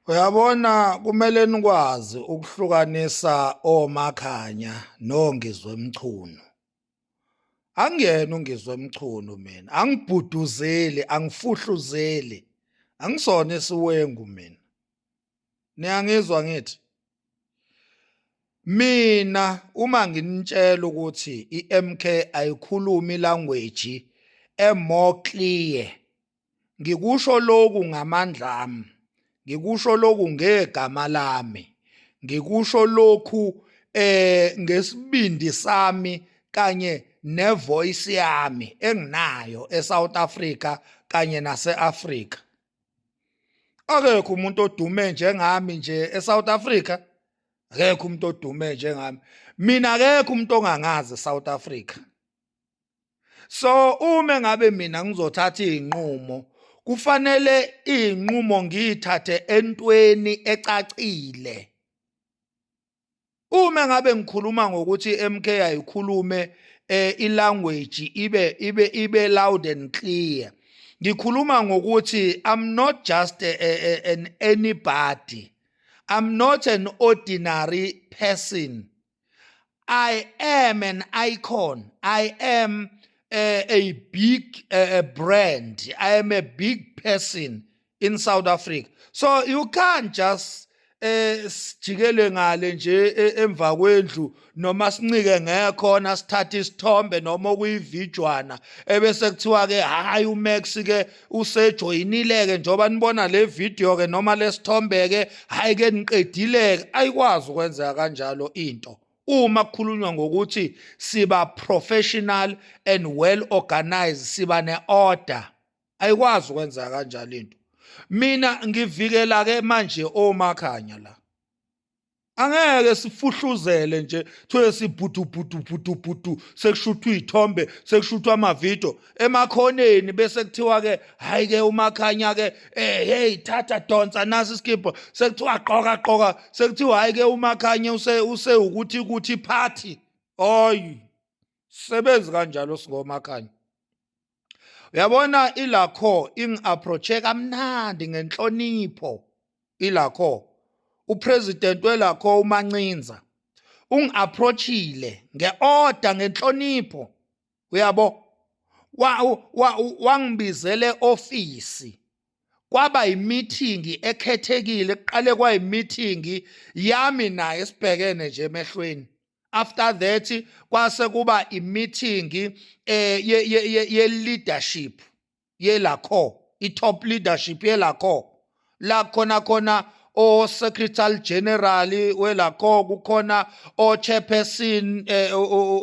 uyabona kumele nikwazi ukuhlukanisa omakhanya nongizwe mchunu angiyena ungizwe mchunu mina angibhuduzeli angifuhluzeli angisona isiwengu mina niyangizwa ngithi mina uma nginitshela ukuthi iMK ayikhulumi language emore clear Ngikusho lokhu ngamandla ami, ngikusho lokhu ngegama lami, ngikusho lokhu eh ngesibindi sami kanye nevoice yami enginayo eSouth Africa kanye naseAfrica. Akekho umuntu odume njengami nje eSouth Africa. Akekho umuntu odume njengami. Mina akekho umuntu ongangazi eSouth Africa. so uma ngabe mina ngizothatha izinqumo kufanele izinqumo ngiyithathe entweni ecacile uma ngabe ngikhuluma ngokuthi MK ayikhulume eh ilanguage ibe ibe ibe loud and clear ngikhuluma ngokuthi i'm not just a, a, a, an anybody i'm not an ordinary person I am an icon. I am a, a big a, a brand. I am a big person in South Africa. So you can't just eh sijikele ngale nje e, emva kwendlu noma sincike ngekhona sithatha isithombe noma kuyividjwana ebese kuthiwa ke hayi uMax ke usejoyinile-ke njengoba nibona le video-ke noma lesithombe-ke hhayi-ke niqedile-ke ayikwazi ukwenzeka kanjalo into uma kukhulunywa ngokuthi siba professional and well organized siba ne-order ayikwazi ukwenzeka kanjalo into mina ngivikela-ke manje omakhanya la angeke sifuhluzele nje kuthiwe sibhudubhudubhudubhudu sekushuthwa iy'thombe sekushuthwa amavidiyo emakhoneni bese kuthiwa-ke hhayi-ke umakhanya-ke um eh, heyi thatha donsa nasi isikibho sekuthiwa qoka qoka sekuthiwa hhayi-ke umakhanya usewukuthi kuthi phathi oyi sebenzi kanjalo singomakhanya uyabona ilakho ingi-approache kamnandi ngenhlonipho ilakho upresident welakho umancinza ungi-approachile nge-order ngenhlonipho uyabo wangibizele ofisi wa, wa, kwaba yimithingi ekhethekile kuqale kwayimithingi yami naye sibhekene nje emehlweni after that kwase kuba i-meeting eh ye-leadership yelakho i-top leadership yelakho la khona khona o-secretary general welakho kukhona o-chairperson eh,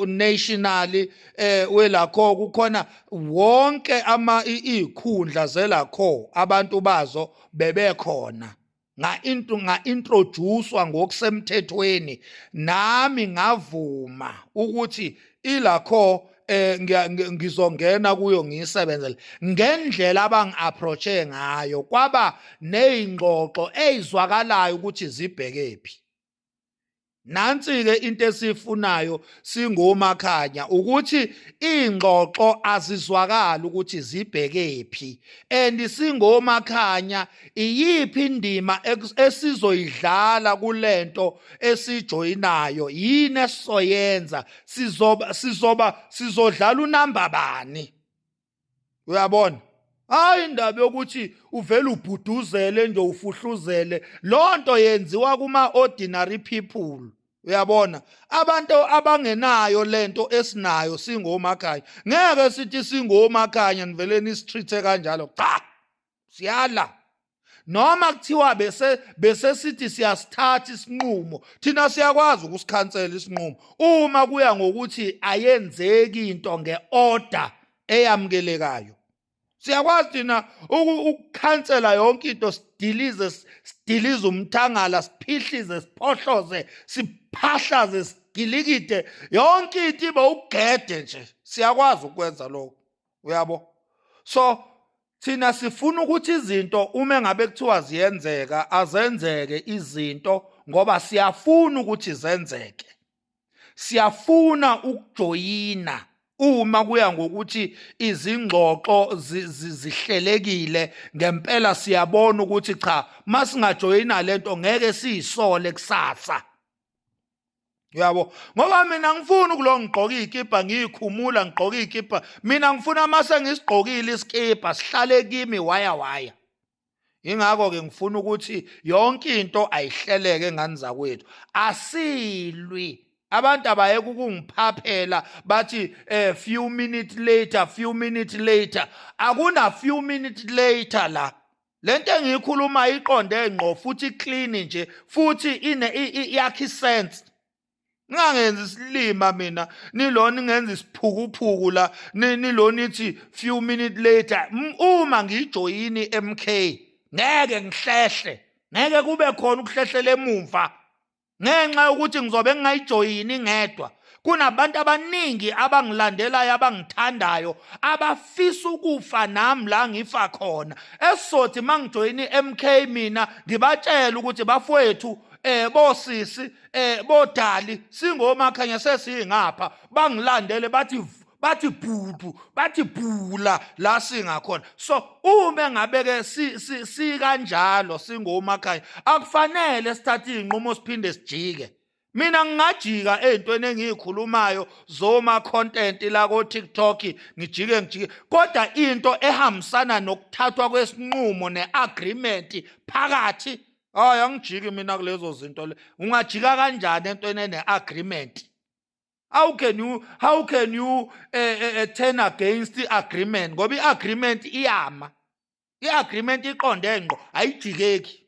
national eh, welakho kukhona wonke ama ikhundla zelakho abantu bazo bebekhona ngainto ngaintroducewa ngokusemthethweni nami ngavuma ukuthi ilakho eh ngizongena kuyo ngiyisebenzele ngendlela abangiapproache ngayo kwaba nezingxoxo ezizwakalayo ukuthi zibhekephi nansi ke into esifunayo singomakhanya ukuthi ingxoxo azizwakala ukuthi zibhekephi and singomakhanya iyiphi indima esizoyidlala kulento esijoyinayo yini esizoyenza sizoba sizoba sizodlala unamba bani uyabona hayi indaba yokuthi uvele ubhuduzele nje ufuhluzele lonto yenziwa kuma ordinary people uyabona abantu abangenayo lento esinayo singomakhanya ngeke sithi singomakhanya nivele nisitreathe kanjalo cha siyala noma kuthiwa bese bese sithi siyasithatha isinqumo thina siyakwazi ukusikhansela isinqumo uma kuya ngokuthi ayenzeki into ngeorder eyamukelekayo siyakwazi thina ukukhansela yonke into sidilize sidilize umthangala siphihlize siphohloze siphahlaze sigilikide yonke into ibe ugede nje siyakwazi ukwenza lokho uyabo so thina sifuna ukuthi izinto uma ngabe kuthiwa ziyenzeka azenzeke izinto ngoba siyafuna ukuthi zenzeke siyafuna ukujoyina uma kuya ngokuthi izingxoxo zihlelekile ngempela siyabona ukuthi cha masingajoyina lento ngeke siyisole kusasa uyabo ngoba mina ngifuna ukulo ngigqoka izikipa ngiyikhumula ngigqoka izikipa mina ngifuna uma sengisigqokile isikipa sihlale kimi waya waya ingakho ke ngifuna ukuthi yonke into ayihleleke ngani zakwethu asilwi abantu abayeke ukungiphaphela bathi eh few minutes later few minutes later akuna few minutes later la lento engiyikhuluma iqonde ngqo futhi clean nje futhi ine iyakhi sense ningangenzi isilima mina nilona ingenza isiphukuphuku la nilona ithi few minute later uma ngijoyini MK ngeke ngihlehle ngeke kube khona ukuhlehlela emumva ngenxa yokuthi ngizobe ngingayijoyini ngedwa kunabantu abaningi abangilandelayo abangithandayo abafisa ukufa nami la ngifa khona esizothi mangijoyini MK mina ngibatshela ukuthi bafowethu eh bosisi eh bodali singomakhanya sesingapha bangilandele bathi bathi bhudu bathi bhula la singakhona so uma ngabeke si, si, si kanjalo singomakhaya akufanele sithathe izinqumo siphinde sijike mina ngingajika ezintweni engiyikhulumayo zoma content la ko TikTok ngijike ngijike kodwa into ehambisana nokuthathwa kwesinqumo neagreement phakathi hayi angijiki mina kulezo zinto le ungajika kanjani entweni eneagreement how can you how can you eh, eh, eh, turn against i-agreement ngoba i-agreement iyama i-agreement iqonde ngqo ayijikeki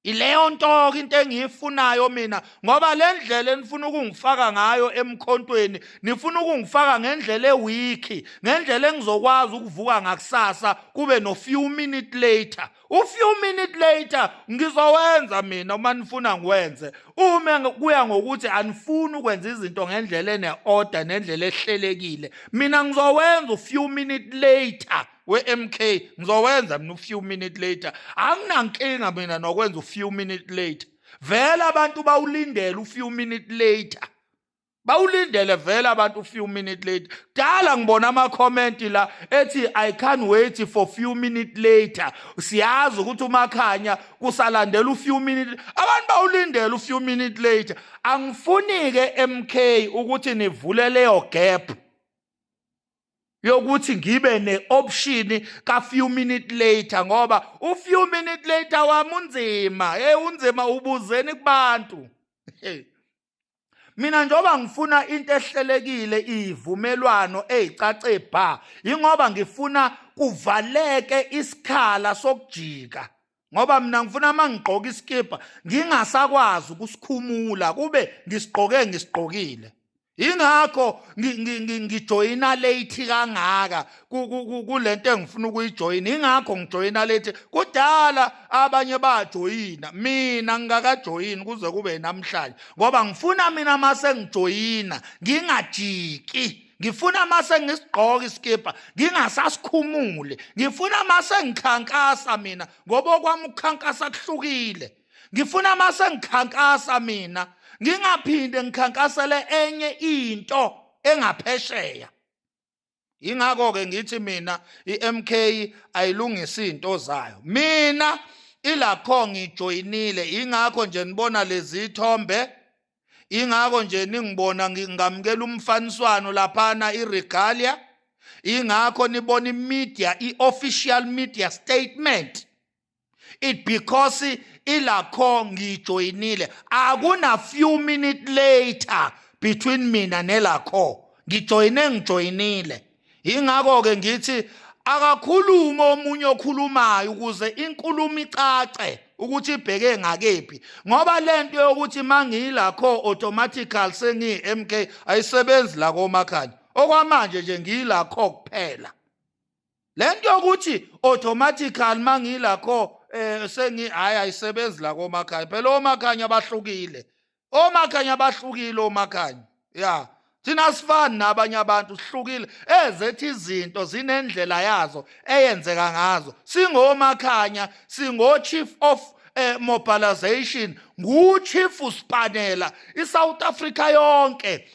ileyo nto-ke into engiyifunayo mina ngoba le ndlela enifuna ukungifaka ngayo emkhontweni nifuna ukungifaka ngendlela ewikhi ngendlela engizokwazi ukuvuka ngakusasa kube no-few minute later u few minute later ngizowenza mina uma nifuna ngiwenze uma kuya ngokuthi anifuni ukwenza izinto ngendlela ene order nendlela ehlelekile mina ngizowenza u few minute later we-MK ngizowenza mina u few minute later anginankinga mina nokwenza u few minute later vele abantu bawulindela u few minute later bawulindele vele abantu few minute late dala ngibona ama comment la ethi i can't wait for few minute later siyazi ukuthi umakhanya kusalandela u few minute abantu bawulindele u few minute later angifuni ke MK ukuthi nivule leyo gap yokuthi ngibe ne-option ka-few minute later ngoba u-few minute later wami unzima hey unzima ubuzeni kubantu hey mina njengoba ngifuna into ehlelekile ivumelwano ezicace bha ingoba ngifuna kuvaleke isikhala sokujika ngoba mina ngifuna uma ngigqoka isikibha ngingasakwazi ukusikhumula kube ngisigqoke ngisigqokile yingakho ngijoyina late kangaka kulento engifuna ukuyijoyina ingakho ngijoyina lethi kudala abanye bajoyina mina ngingakajoyini kuze kube namhlanje ngoba ngifuna mina mase ngijoyina ngingajiki ngifuna mase ngisigqoka isikibha ngingasasikhumule ngifuna mase ngikhankasa mina ngoba okwami ukukhankasa kuhlukile ngifuna mase ngikhankasa mina ngingaphinde ngikhankasele enye into engaphesheya ingakho ke ngithi mina iMK ayilungisa izinto zayo mina ilakho ngijoyinile ingakho nje nibona lezi thombe ingakho nje ningibona ngingamukela umfaniswano laphana iregalia ingakho nibona imedia iofficial media statement it because ilakho ngijoyinile akuna few minute later between mina nelakho ngijoyine ngijoyinile ingakho ke ngithi akakhulume omunye okhulumayo ukuze inkulumo icace ukuthi ibheke ngakephi ngoba lento yokuthi mangiyilakho automatical sengi MK ayisebenzi la komakhanya okwamanje nje ngiyilakho kuphela lento yokuthi automatical mangila kho eh sengi hayi ayisebenzi la komakhanya phela omakhanya bahlukile omakhanya bahlukile omakhanya ya thina sifani nabanye abantu sihlukile ezethi izinto zinendlela yazo eyenzeka ngazo singomakhanya singo chief of eh, mobilization nguchief usipanela isouth africa yonke